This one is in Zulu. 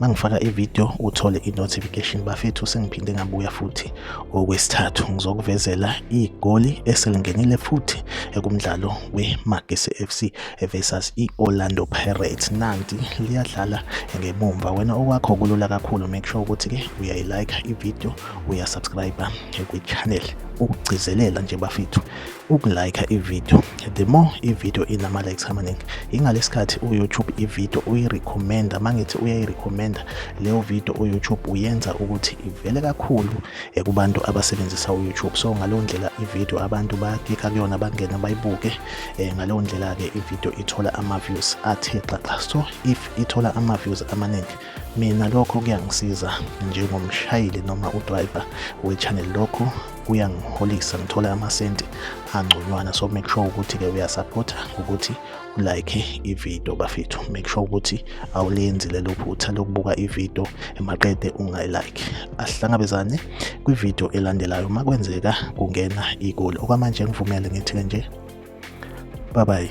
mangifaka ivideo uthole i-notification bafethu sengiphinde ngabuya futhi okwesithathu ngizokuvezela igoli eselingenile futhi ekumdlalo we-magesi fc versus i-orlando pirates nanti liyadlala ngemumva wena okwakho kulula kakhulu make sure ukuthi-ke uyayilike ivideo uyasubscribe kwi-channel ukugcizelela nje bafethu ukulike ivideo the more ivideo inama-likes amaningi ingalesikhathi uyoutube ivideo uyirecommenda uma ngithi uyayirecommenda leyo video uyoutube uyenza ukuthi ivele kakhulu kubantu abasebenzisa uyoutube so ngaleyo ndlela ivideo abantu bakika kuyona bangena bayibuke um ngaleyo ndlela-ke ivideo ithola ama-views athe xaxa so if ithola ama-views amaningi mina lokho kuyangisiza njengomshayeli noma udriver we-channel lokho kuyangiholisa ngithole amasenti angconywana so make sure ukuthi-ke uyasaphotha ngokuthi ulike ividiyo bafethu make sure ukuthi awulenzi lelo phutha lokubuka ividiyo emaqede ungayilike asihlangabezane kwividiyo elandelayo uma kwenzeka kungena igoli okwamanje ngivumele ngithi-ke nje bye bye